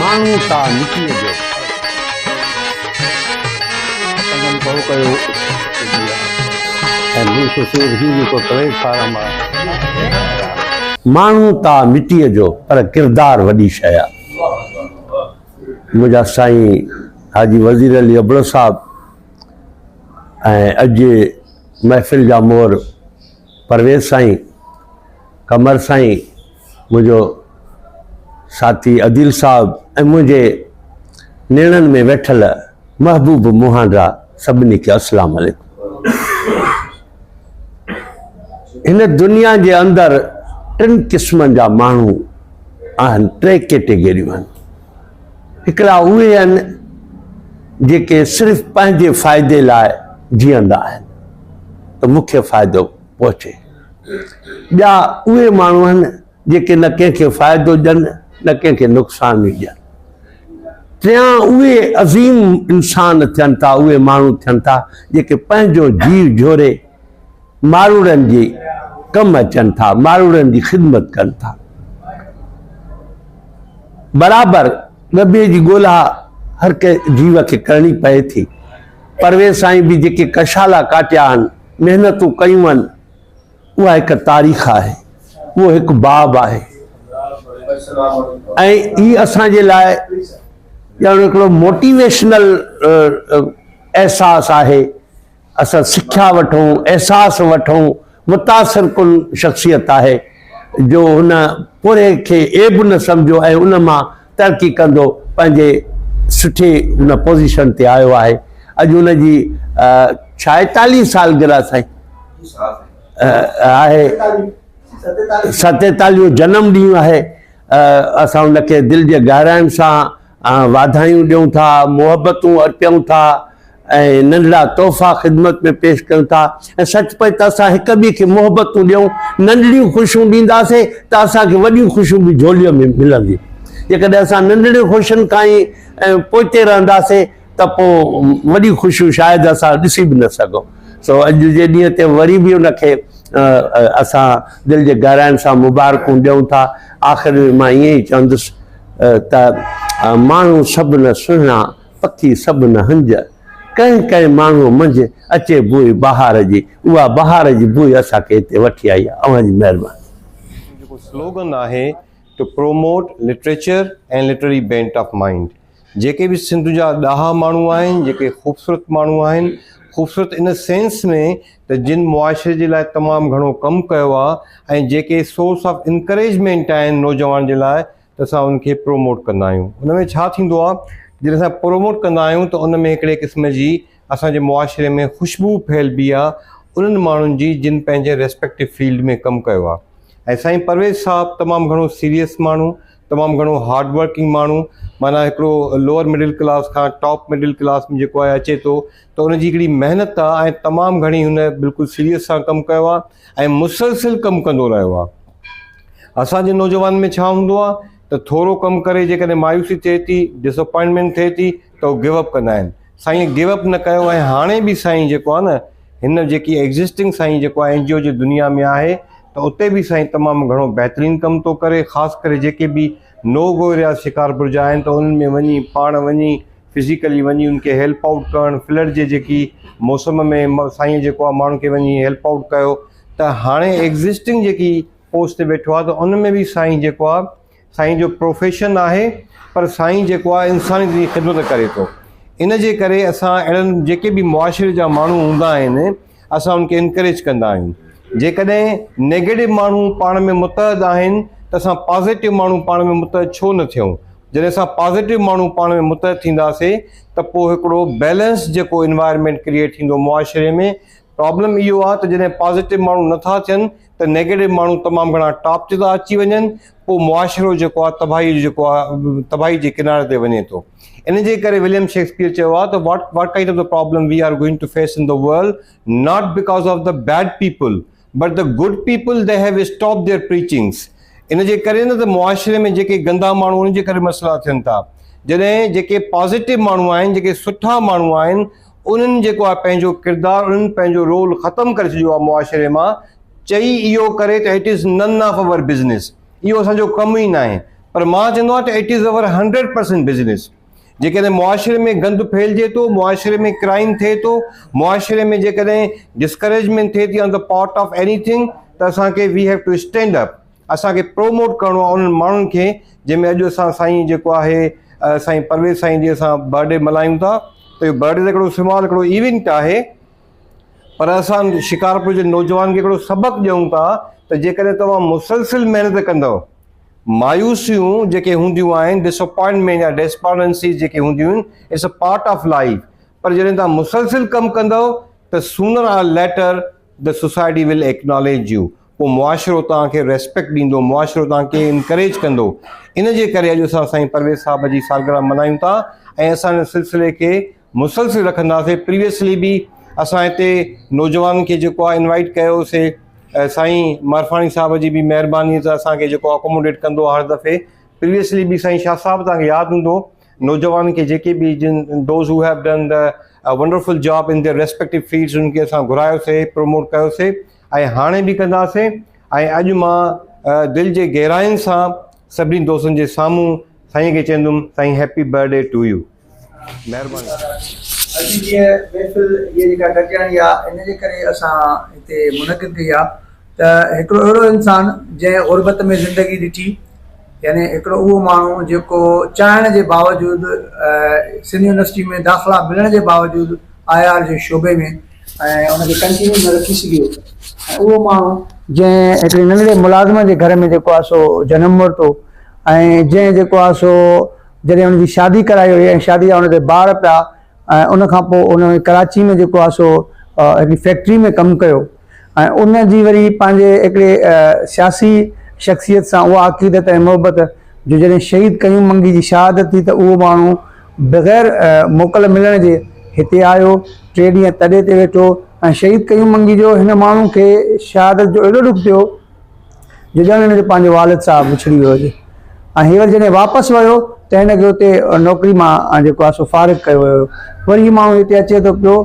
ماڻهو سا مٽيء جو ڀو ڪيو ۽ مون کي سور هي جيڪو ڪليج فارم آهي ماڻهو تا مٽيء جو پر ڪردار وڏي شيء آهي منهنجا سائين حاجي وزير علي ابڙو صاحب ۽ اڄ جي محفل جا مور پرويز سائين، قمر سائين، منهنجو ساٿي عديل صاحب ۽ منهنجي نيڻن ۾ ويٺل محبوب مهانڊا سڀني کي اسلام عليڪم. هن دنيا جي اندر ٽن قسمن جا ماڻهو آهن، ٽي ڪيٽيگريون آهن. هڪڙا اهي آهن جيڪي صرف پنهنجي فائدي لاء جيئندا آهن ته مون کي فائدو پهچي ٻيا اهي ماڻهو آهن جيڪي نه ڪنهن کي فائدو ڏين نه ڪنهن کي نقصان ئي ڏين ٽيان اهي عظيم انسان ٿين ٿا اهي ماڻهو ٿين ٿا جيڪي پنهنجو جيو جھوري ماروئڙن جي ڪم اچن ٿا، ماروئڙن جي خدمت ڪن ٿا. برابر ڏٻي جي ڳولا هر ڪنهن جيو کي ڪرڻي پئي ٿي. پرويز سائين به جيڪي ڪشالا ڪاٽيا آهن، محنتون ڪيون آهن، اها هڪ تاريخ آهي، اهو هڪ باب آهي ۽ هي اسان جي لاء ڄڻ هڪڙو موٽيويشنل احساس آهي اسان سکيا وٺون احساس وٺون متاثر ڪن شخصيت آهي جو هن پورهيي کي عيب نه سمجهيو ۽ ان مان ترقي ڪندو پنهنجي سٺي هن پوزيشن تي آيو آهي اڄ ان جي ڇائيتاليهه سالگرهه سائين آهي ستيتاليهون جنم ڏينهن آهي اسان ان کي دل جي گهراين سان واڌايون ڏيون ٿا، محبتون ارپيون ٿا ۽ ننڍڙا تحفا خدمت ۾ پيش ڪيون ٿا ۽ سچ پچ ته اسان هڪ ٻئي کي محبتون ڏيون، ننڍڙيون خوشيون ڏينداسين ته اسان کي وڏيون خوشيون به جهوليء ۾ ملنديون. جيڪڏهن اسان ننڍڙين خوشين کان ئي پوئتي رهنداسين ته پوء وڏيون خوشيون شايد اسان ڏسي به نه سگهون. سو اڄ جي ڏينهن تي وري به ان کي اسان دل جي گهراين سان مبارڪون ڏيون ٿا. آخر ۾ مان ائين ئي چوندس. ته ماڻهو سڀ نه سهڻا، پکي سڀ نه هنج. ڪنهن ڪنهن ماڻهوء منجهه اچي بوء بهار جي. اها بهار جي بوء اسان کي هتي وٺي آئي آهي. اوهان جي مهرباني. جيڪو سلوگن آهي to promote literature and literary bent of mind جيڪي به سنڌ جا ڏاها ماڻهو آهن جيڪي خوبصورت ماڻهو آهن خوبصورت ان سينس ۾ ته جن معاشري جي لاء تمام گهڻو ڪم ڪيو آ ۽ جيڪي سورس آف انڪريجمينٽ آهن نوجوان جي لاء ته اسان ان کي پروموٽ ڪندا آهيون ان ۾ ڇا ٿيندو آ جڏهن اسان پروموٽ ڪندا آهيون ته ان ۾ هڪڙي قسم جي اسان جي معاشري ۾ خوشبو ڦهلبي آ انهن ماڻهن جي جن پنهنجي ريسپيڪٽو فيلڊ ۾ ڪم ڪيو آ ۽ سائين پرويز صاحب تمام گهڻو سيريس ماڻهو تمام گهڻو هارڊ ورڪنگ ماڻهو معنيٰ هڪڙو لوئر مڊل ڪلاس کان ٽاپ مڊل ڪلاس ۾ جيڪو آهي اچي ٿو ته ان جي هڪڙي محنت آهي ۽ تمام گهڻي هن بلڪل سيريس سان ڪم ڪيو آهي ۽ مسلسل ڪم ڪندو رهيو آهي. اسان جي نوجوانن ۾ ڇا هوندو آهي ته ٿورو ڪم ڪري جيڪڏهن مايوسي ٿئي ٿي، Disappointment، ٿئي ٿي ته هو Give Up ڪندا آهن. سائينء Give Up نه ڪيو ۽ هاڻي به سائين جيڪو آهي نه هن جيڪي Existing سائين جيڪو آهي NGO جي دنيا ۾ آهي ته اتي به سائين تمام گهڻو بهترين ڪم ٿو ڪري خاص ڪري جيڪي به نو گوريا شڪارپور جا آهن ته انهن ۾ وڃي پاڻ وڃي فزيڪلي وڃي ان کي هيلپ آئوٽ ڪرڻ فلڊ جي جيڪي موسم ۾ سائين جيڪو آ ماڻهن کي وڃي هيلپ آئوٽ ڪيو ته هاڻي ايگزسٽنگ جيڪي پوسٽ تي ويٺو آ ته ان ۾ به سائين جيڪو آ سائين جو پروفيشن آهي پر سائين جيڪو آ انسانيت جي خدمت ڪري ٿو ان جي ڪري اسان اهڙن جيڪي به معاشري جا ماڻهو هوندا آهن اسان انهن کي انڪريج ڪندا آهيون. جيڪڏهن نيگيٽو ماڻهو پاڻ ۾ متحد آهن ته اسان پازيٽو ماڻهو پاڻ ۾ متحد ڇو نه ٿيون؟ جڏهن اسان پازيٽو ماڻهو پاڻ ۾ متحد ٿينداسي ته پوء هڪڙو بيلنس جيڪو انوائرمينٽ ڪريئيٽ ٿيندو معاشري ۾ پرابلم اهو آهي ته جڏهن پازيٽو ماڻهو نه ٿا ٿين ته نيگيٽو ماڻهو تمام گهڻا ٽاپ تي ٿا اچي وڃن پوء معاشرو جيڪو آهي تباهي جو جيڪو آهي تباهي جي ڪناري تي وڃي ٿو ان جي ڪري وليم شيڪسپيئر چيو آهي ته what what kind of the problem we are going to face in the world not because of the bad people but the good people they have stop their preachings ان جي ڪري نه ته معاشري ۾ جيڪي گندا ماڻهو ان جي ڪري مسئلا ٿين ٿا جڏهن جيڪي پازيٽو ماڻهو آهن جيڪي سٺا ماڻهو آهن انهن جيڪو آهي پنهنجو ڪردار انهن پنهنجو رول ختم ڪري ڇڏيو آهي معاشري مان چئي اهو ڪري ته it is none of our business اهو اسان جو ڪم ئي ناهي پر مان چوندو آهيان ته it is our hundred percent business جيڪڏهن معاشري ۾ گند ڦهلجي ٿو معاشري ۾ ڪرائيم ٿئي ٿو معاشري ۾ جيڪڏهن ڊسڪريجمينٽ ٿئي ٿي on the part of any thing ته اسان کي we have to stand up اسان کي پروموٽ ڪرڻو آهي انهن ماڻهن کي جنهن ۾ اڄ اسان سائين جيڪو آهي سائين پرويز سائين جي اسان برٿڊي ملهايون ٿا ته اهو برٿڊي ته هڪڙو سمال هڪڙو ايونٽ آهي پر اسان شڪارپور جي نوجوان کي هڪڙو سبق ڏيون ٿا ته جيڪڏهن توهان مسلسل محنت ڪندؤ مايوسيون جيڪي هونديون آهن ڊساپوائنٽمينٽ يا ڊيسپارنسيز جيڪي هونديون آهن it's a part of life پر جڏهن توهان مسلسل ڪم ڪندؤ ته sooner or later the society will acknowledge you پوء معاشرو توهان کي ريسپيڪٽ ڏيندو، معاشرو توهان کي انڪريج ڪندو. ان جي ڪري اڄ اسان سائين پرويز صاحب جي سالگرهه ملهايون ٿا ۽ اسان ان سلسلي کي مسلسل رکنداسين. پريويسلي به اسان هتي نوجوانن کي جيڪو آهي انوائيٽ ڪيو هو سي سائين مارفاڻي صاحب جي به مهرباني سان اسان کي جيڪو اڪوموڊيٽ ڪندو آهي هر دفعي. پريويسلي به سائين شاهه صاحب توهان کي ياد هوندو نوجوانن کي جيڪي به جن those who have done the wonderful job in their respective fields ان کي اسان گهرايو سي پروموٽ ڪيو سي. ۽ هاڻي به ڪنداسين ۽ اڄ مان دل جي گهراين سان سڀني دوستن جي سامهون سائين کي چئندم سائين هيپي برٿڊي ٽو يو مهرباني. اڄ جي هيء محفل هيء جيڪا گڏجاڻي آ ان جي ڪري اسان هتي منعقد ڪئي آ ته هڪڙو اهڙو انسان جنهن غربت ۾ زندگي ڏٺي يعني هڪڙو اهو ماڻهو جيڪو چاهڻ جي باوجود سنڌ يونيورسٽي ۾ داخلا ملڻ جي باوجود آء آر جي شعبي ۾ ۽ ان کي ڪنٽينيو نه رکي سگهيو ۽ اهو ماڻهو جنهن هڪڙي ننڍڙي ملازمه جي گهر ۾ جيڪو آهي سو جنم ورتو ۽ جنهن جيڪو آهي سو جڏهن ان جي شادي ڪرائي وئي ۽ شادي جا ان تي ٻار پيا ۽ ان کان پوء ان ڪراچي ۾ جيڪو آهي سو هڪڙي فيڪٽري ۾ ڪم ڪيو ۽ ان جي وري پنهنجي هڪڙي سياسي شخصيت سان اها عقيدت ۽ محبت جو جڏهن شهيد قيوم منگي جي شهادت ٿي ته اهو ماڻهو بغير موڪل ملڻ جي هتي آيو، ٽي ڏينهن تڏي تي ويٺو ۽ شهيد قيوم منگي جو هن ماڻهو کي شهادت جو ايڏو ڏک ٿيو جو ڄڻ هن جو پنهنجو والد صاحب وڇڙي ويو هجي ۽ هينئر جڏهن واپس ويو ته هن کي اتي نوڪري مان جيڪو آهي سو فارغ ڪيو ويو هيو وري هي ماڻهو هتي اچي ٿو پيو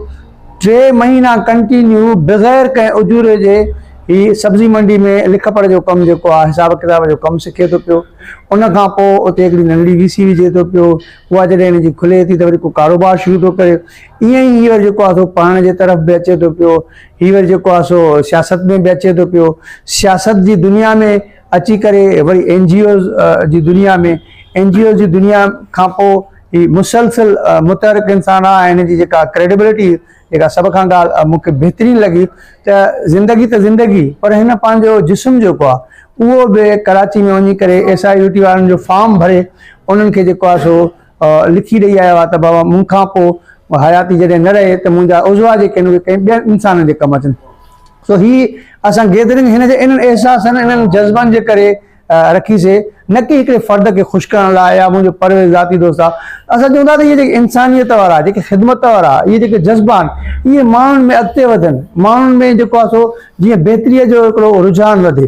ٽي مهينا ڪنٽينيو بغير ڪنهن اجوري جي هي سبزي منڊي ۾ لک پڙهه جو ڪم جيڪو آ حساب ڪتاب جو ڪم سکي ٿو پيو ان کان پوء اتي هڪڙي ننڍڙي وي سي وجهي ٿو پيو اها جڏهن هن جي کلي ٿي ته وري ڪو ڪاروبار شروع ٿو ڪري ائين ئي هي وري جيڪو آ سو پڙهڻ جي طرف به اچي ٿو پيو هي وري جيڪو آ سو سياست ۾ به اچي ٿو پيو سياست جي دنيا ۾ اچي ڪري وري اين جي اوز جي دنيا ۾ اين جي اوز جي دنيا کان پوء هي مسلسل متحرڪ انسان آ ۽ هن جي جيڪا ڪريڊيبلٽي جيڪا سڀ کان ڳالهه مون کي بهترين لڳي ته زندگي ته زندگي پر هن پنهنجو جسم جيڪو آ اهو به ڪراچي ۾ وڃي ڪري ايس آء يو ٽي وارن جو فارم ڀري انهن کي جيڪو آ سو لکي ڏئي آيو آهي ته بابا مون کان پوء حياتي جڏهن نه رهي ته منهنجا عضوا جيڪي آهن اهي ڪنهن ٻين انسان جي ڪم اچن سو هي اسان گيدرنگ هن جي انهن احساسن انهن جذبن جي ڪري رکي سي نه ڪي هڪڙي فرد کي خوش ڪرڻ لاء يا منهنجو پرويز ذاتي دوست آهي اسان چون ٿا ته اهي جيڪي انسانيت وارا جيڪي خدمت وارا اهي جيڪي جذبا آهن اهي ماڻهن ۾ اڳتي وڌن ماڻهن ۾ جيڪو آهي سو جيئن بهتري جو هڪڙو رجحان وڌي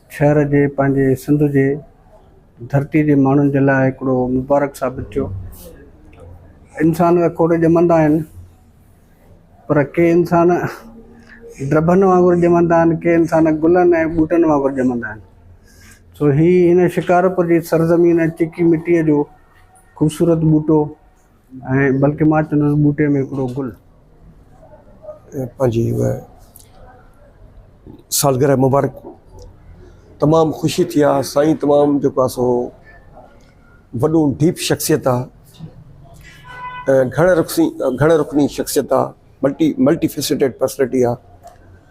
شهر جي پنهنجي سنڌ جي ڌرتي جي ماڻهن جي لاء هڪڙو مبارڪ ثابت ٿيو. انسان ته کوڙ ڄمندا آهن پر ڪي انسان ڊڀن وانگر ڄمندا آهن ڪي انسان گلن ۽ ٻوٽن وانگر ڄمندا آهن سو هي هن شڪارپور جي سرزمين چيڪي مٽي جو خوبصورت ٻوٽو ۽ بلڪه مان چوندس ٻوٽي ۾ هڪڙو گل. پنهنجي اها سالگرهه مبارڪ تمام خوشي ٿي آ سائين تمام جيڪو آ سو وڏو ڊيپ شخصيت آ گهڻ رخسي گهڻ رخني شخصيت آ ملٽي ملٽي فيسيٽيڊ پرسنالٽي آ.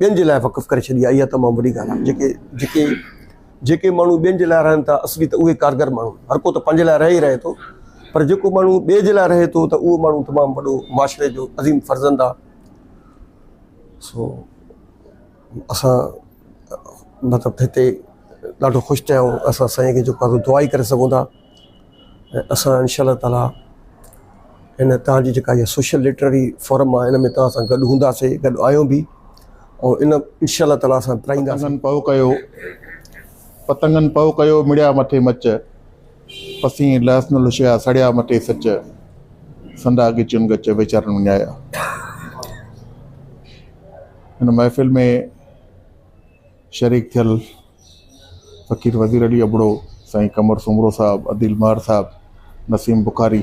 ٻين جي لاء وقف ڪري ڇڏي آهي اها تمام وڏي ڳالهه آهي جيڪي جيڪي جيڪي ماڻهو ٻين جي لاء رهن ٿا اصلي ته اهي ڪارگر ماڻهو آهن هر ڪو ته پنهنجي لاء رهي ئي رهي ٿو پر جيڪو ماڻهو ٻئي جي لاء رهي ٿو ته اهو ماڻهو تمام وڏو معاشري جو عظيم فرزند آهي سو اسان مطلب هتي ڏاڍو خوش ٿيا آهيون اسان سائين کي جيڪو دعا ئي ڪري سگهون ٿا ۽ اسان انشاء الله تعالٰي هن تان جي جيڪا هي سوشل لٽرري فورم آهي ان ۾ تان سان گڏ هونداسي گڏ آهيون به ۽ ان انشاء الله تعالٰي اسان پرائينداسي. پتنگن پئو ڪيو پتنگن پئو ڪيو مڙيا مٿي مچ پسين لهس نه لشيا سڙيا مٿي سچ سندا ڳچين ڳچ ويچارن وڃايا هن محفل ۾ شريڪ ٿيل فقير وزير علي ابڙو، سائين قمر سومرو صاحب، عديل ماھر صاحب، نسيم بخاري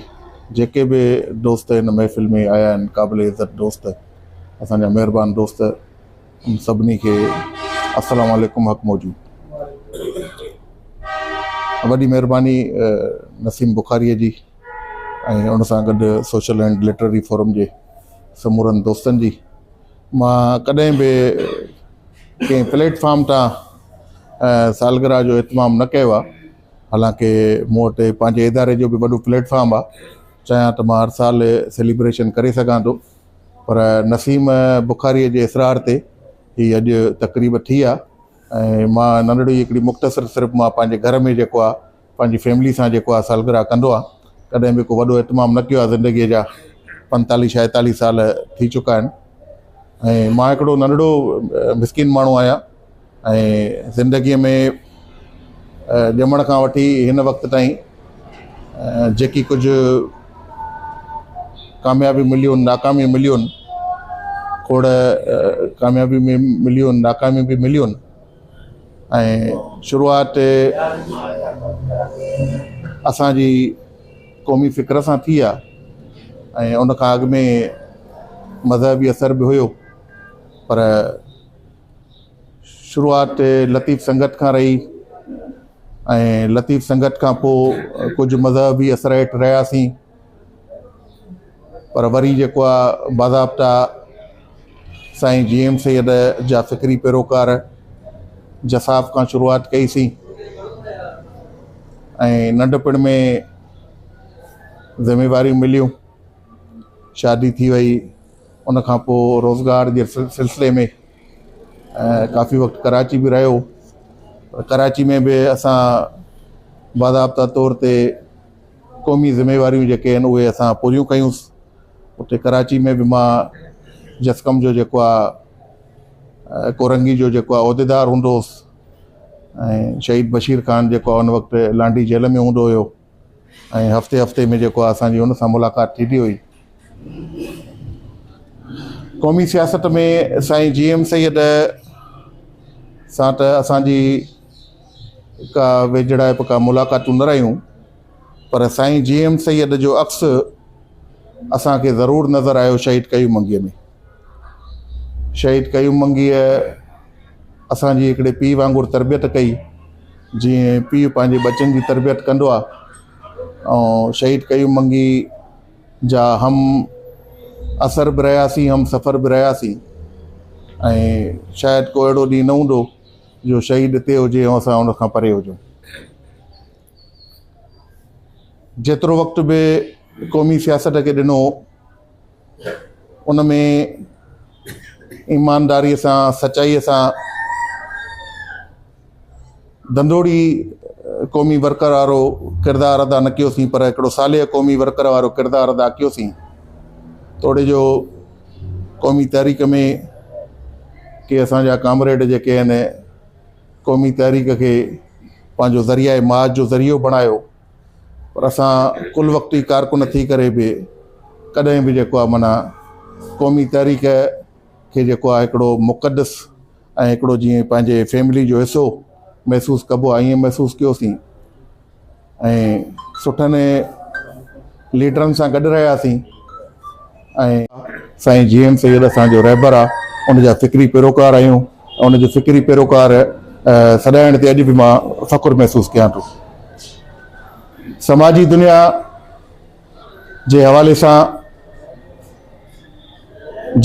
جيڪي به دوست هن محفل ۾ آيا آهن قابل عزت دوست اسان جا مهربان دوست ان سڀني کي السلام عليڪم حق موجود وڏي مهرباني نسيم بخاري جي ۽ ان سان گڏ سوشل اينڊ لٽرري فورم جي سمورن دوستن جي مان ڪڏهن به ڪنهن پليٽ فارم تان سالگرهه جو اهتمام نه ڪيو آهي حالانڪ مون وٽ پنهنجي اداري جو به وڏو پليٽ فارم آهي چاهيان ته مان هر سال سيليبريشن ڪري سگهان ٿو پر نسيم بخاريء جي اصرار تي هي اڄ تقريب ٿي آهي ۽ مان ننڍڙي هڪڙي مختصر صرف مان پنهنجي گهر ۾ جيڪو آهي پنهنجي فيملي سان جيڪو آهي سالگرهه ڪندو آهي ڪڏهن به ڪو وڏو اهتمام نه ڪيو آهي زندگيء جا پنتاليهه شائيتاليهه سال ٿي چڪا آهن ۽ مان هڪڙو ننڍڙو مسڪين ماڻهو آهيان ۽ زندگيء ۾ ڄمڻ کان وٺي هن وقت تائين جيڪي ڪجهه ڪاميابي مليون ناڪامي مليون کوڙ ڪاميابي مليون ناڪامي به مليون ۽ شروعات اسان جي قومي فڪر سان ٿي آ ۽ ان کان اڳ ۾ مذهبي اثر به هيو پر شروعات لطيف سنگت کان رهي ۽ لطيف سنگت کان پوء ڪجهه مذهبي اثر هيٺ رهياسين پر وري جيڪو آ باضابطا سائين جي ايم سيد جا فڪري پيروڪار جساف کان شروعات ڪئي سي ۽ ننڍپڻ ۾ ذميواريون مليون شادي ٿي وئي ان کان پوء روزگار جي سلسلي ۾ ڪافي وقت ڪراچي به رهيو ڪراچي ۾ به اسان باضابطا طور تي قومي ذميواريون جيڪي آهن اهي اسان پوريون ڪيون اتي ڪراچي ۾ به مان جسقم جو جيڪو آهي ڪورنگي جو جيڪو آهي عهديدار هوندو هوس ۽ شهيد بشير خان جيڪو آهي ان وقت لانڊي جيل ۾ هوندو هيو ۽ هفتي هفتي ۾ جيڪو آهي اسانجي ان سان ملاقات ٿيندي هئي قومي سياست ۾ سائين جي ايم سيد سان ته اسانجي ڪا ويجهڙائپ ڪا ملاقاتون نه رهيون پر سائين جي ايم سيد جو عڪس اسان کي ضرور نظر آيو شهيد قيوم منگيء ۾ شهيد قيوم منگيء اسان جي هڪڙي پيء وانگر تربيت ڪئي جيئن پيء پنهنجي ٻچن جي تربيت ڪندو آ ۽ شهيد قيوم منگي جا هم اثر به رهياسين هم سفر به رهياسين ۽ شايد ڪو اهڙو ڏينهن نه هوندو جو شهيد اتي هجي ۽ اسان ان کان پري هجون. جيترو وقت به قومي سياست کي ڏنو ان ۾ ايمانداري سان سچائي سان دندوڙي قومي ورڪر وارو ڪردار ادا نه ڪيوسين پر هڪڙو صالح قومي ورڪر وارو ڪردار ادا ڪيوسين توڙي جو قومي تحريڪ ۾ ڪي اسان جا ڪامريڊ جيڪي آهن قومي تحريڪ کي پنهنجو ذريعه معاش جو ذريعو بڻايو پر اسان ڪل وقتي ڪارڪن ٿي ڪري به ڪڏهن به جيڪو آهي معنيٰ قومي تحريڪ کي جيڪو آهي هڪڙو مقدس ۽ هڪڙو جيئن پنهنجي فيملي جو حصو محسوس ڪبو آهي ائين محسوس ڪيوسين سٺن ليڊرن سان گڏ رهياسين سائين جي ايم سيد اسان جو رهبر آ ان جا فڪري پيروڪار آهيون ان جي فڪري پيروڪار سڏائڻ تي اڄ به مان فخر محسوس ڪيان ٿو سماجي دنيا جي حوالي سان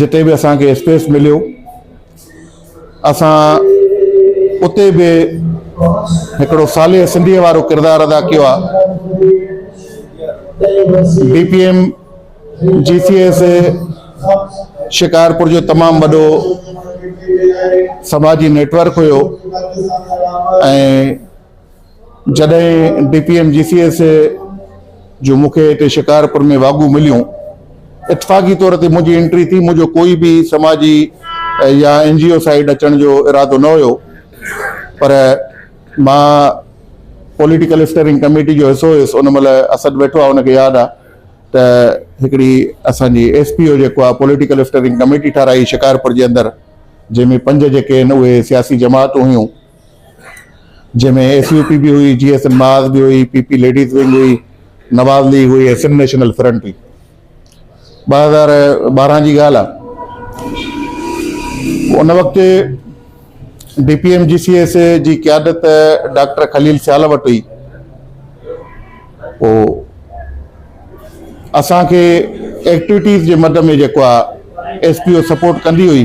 جتي به اسان کي اسپيس مليو اسان اتي به هڪڙو صالح سنڌيء وارو ڪردار ادا ڪيو آ ڊي پي ايم جي سي ايس شڪارپور جو تمام وڏو سماجي نيٽورڪ هيو ۽ جڏهن ڊي پي ايم جي سي ايس اي جون مون کي هتي شڪارپور ۾ واڳون مليون، اتفاقي طور تي منهنجي انٽري ٿي، منهنجو ڪوئي به سماجي يا اين جي او سائيڊ اچڻ جو ارادو نه هيو پر مان پوليٽيڪل اسٽيئرنگ ڪميٽي جو حصو هيس، ان مهل اسد ويٺو آهي ان کي ياد آهي ته هڪڙي اسان جي ايس پي او جيڪو آهي پوليٽيڪل اسٽيئرنگ ڪميٽي ٺاهرائي شڪارپور جي اندر جنهن ۾ پنج جيڪي آهن اهي سياسي جماعتون هيون. جنهن ۾ ايس يو پي به هئي، جي ايس ايم معاذ به هئي، پي پي ليڊيز ونگ هئي، نواز ليگ هئي ۽ سنڌ نيشنل فرنٽ هئي. ٻه هزار ٻارهن جي ڳالهه آهي. ان وقت ڊي پي ايم جي سي ايس اي جي قيادت ڊاڪٽر خليل سيال وٽ هئي. پوء اسان کي ايڪٽويٽيز جي مد ۾ جيڪو آهي ايس پي او سپورٽ ڪندي هئي.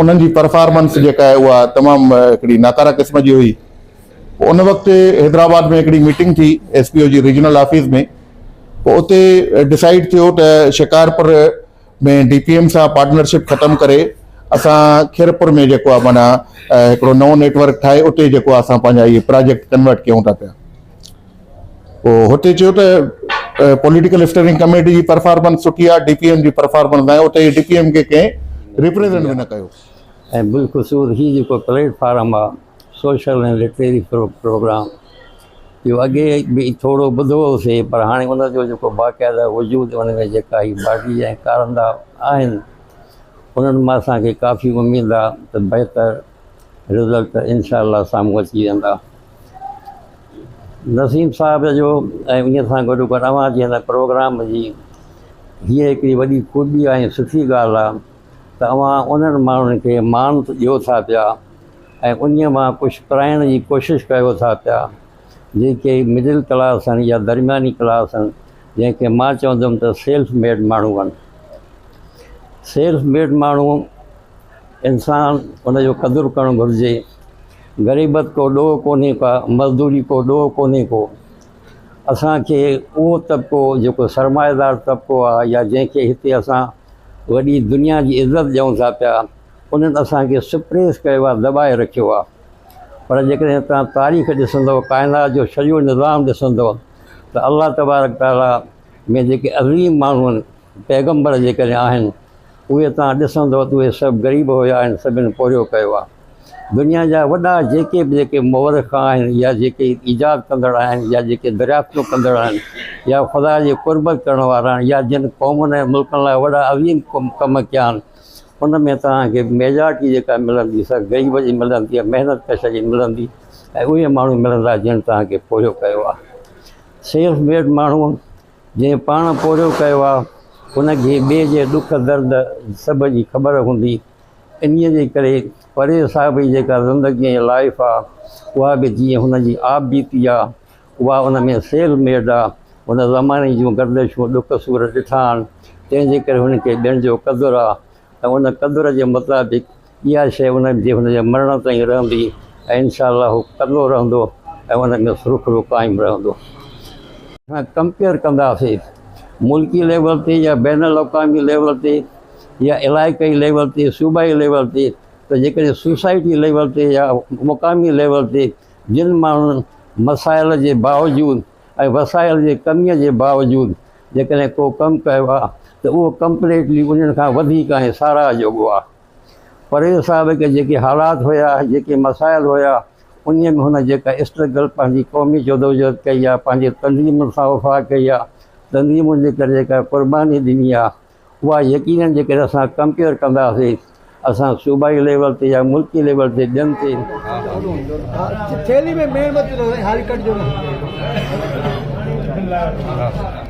انهن جي پرفارمنس جيڪا آهي اها تمام هڪڙي ناڪاره قسم جي هئي پوء ان وقت حيدرآباد ۾ هڪڙي ميٽنگ ٿي ايس پي او جي ريجنل آفيس ۾ پوء اتي ڊسائيڊ ٿيو ته شڪارپور ۾ ڊي پي ايم سان پارٽنرشپ ختم ڪري اسان کيرپور ۾ جيڪو آهي معنيٰ هڪڙو نئون نيٽورڪ ٺاهي اتي جيڪو اسان پنهنجا اهي پراجيڪٽ ڪنورٽ ڪيون ٿا پيا هتي چيو ته پوليٽيڪل اسٽيئرنگ ڪميٽي جي پرفارمنس سٺي آهي، ڊي پي ايم جي پرفارمنس ناهي، اتي ڊي پي ايم کي ڪنهن ريپريزنٽ به نه ڪيو. ۽ بالخصوص هي جيڪو پليٽ فارم آهي سوشل ۽ لٽريري پروگرام اهو اڳي به ٿورو ٻڌو هوسي پر هاڻي ان جو جيڪو باقاعده وجود ان ۾ جيڪا هي باڊي ۽ ڪارندا آهن انهن مان اسان کي ڪافي اميد آهي ته بهتر رزلٽ انشاء الله سامهون اچي ويندا. نسيم صاحب جو ۽ ان سان گڏو گڏ اوهان جي هن پروگرام جي هيء هڪڙي وڏي خوبي ۽ سٺي ڳالهه آهي ته اوهان انهن ماڻهن کي مان ته ڏيو ٿا پيا ۽ انهيء مان ڪجهه پرائڻ جي ڪوشش ڪيو ٿا پيا جيڪي مڊل ڪلاس آهن يا درمياني ڪلاس آهن جنهن کي مان چوندم ته سيلف ميڊ ماڻهو آهن سيلف ميڊ ماڻهو انسان ان جو قدر ڪرڻ گهرجي غريبت ڪو ڏوهه ڪونهي ڪا مزدوري ڪو ڏوهه ڪونهي ڪو اسان کي اهو طبقو جيڪو سرمائيدار طبقو آهي يا جنهن کي هتي اسان وڏي دنيا جي عزت ڏيون ٿا پيا انهن اسان کي سپريس ڪيو آهي دٻائي رکيو آهي پر جيڪڏهن تان تاريخ ڏسندو ڪائنات جو سڄو نظام ڏسندو ته الله تبارڪ تعالٰي ۾ جيڪي عظيم ماڻهو آهن پيغمبر جيڪڏهن آهن اهي توهان ڏسندؤ ته اهي سڀ غريب هيا هن سڀن پورهيو ڪيو آهي دنيا جا وڏا جيڪي به جيڪي مورخ آهن يا جيڪي ايجاد ڪندڙ آهن يا جيڪي دريافتون ڪندڙ آهن يا خدا جي قربت ڪرڻ وارا آهن يا جن قومن ۽ ملڪن لاء وڏا عظيم ڪم ڪيا آهن ان ۾ توهان کي ميجارٽي جيڪا ملندي سا غريب جي ملندي يا محنت ڪش جي ملندي ۽ اهي ماڻهو ملندا جن توهان کي پورهيو ڪيو آهي سيلف ميڊ ماڻهو جنهن پاڻ پورهيو ڪيو آ ان کي ٻئي جي ڏک درد سڀ جي خبر هوندي انهي جي ڪري پريز صاحب جي جيڪا زندگي ۽ لائيف آ اها به جيئن هن جي آپ بيتي آ اها ان ۾ سيل ميڊ آ هن زماني جون گردشون ڏک سور ڏٺا آهن تنهن جي ڪري هن کي ٻين جو قدر آ ۽ ان قدر جي مطابق اها شيء ان جي هن جي مرڻ تائين رهندي ۽ انشاء الله هو ڪندو رهندو ۽ ان جو سرخرو قائم رهندو. اسان ڪمپيئر ڪنداسين ملڪي ليول تي يا بين الاقوامي ليول تي يا علائقائي ليول تي صوبائي ليول تي ته جيڪڏهن سوسائٽي ليول تي يا مقامي ليول تي جن ماڻهن مسائل جي باوجود ۽ وسائل جي ڪميء جي باوجود جيڪڏهن ڪو ڪم ڪيو آهي ته اهو ڪمپليٽلي انهن کان وڌيڪ ۽ ساراهه جوڳو آهي. پرويز صاحب کي جيڪي حالات هيا، جيڪي مسائل هيا، انهيء ۾ هن جيڪا اسٽرگل پنهنجي قومي جدوجهد ڪئي آهي، پنهنجي تنظيمن سان وفا ڪئي آهي، تنظيمن جي ڪري جيڪا قرباني ڏني آهي، اها يقينن جيڪڏهن اسان ڪمپيئر ڪنداسين، اسان صوبائي ليول تي يا ملڪي ليول تي ٻين تي.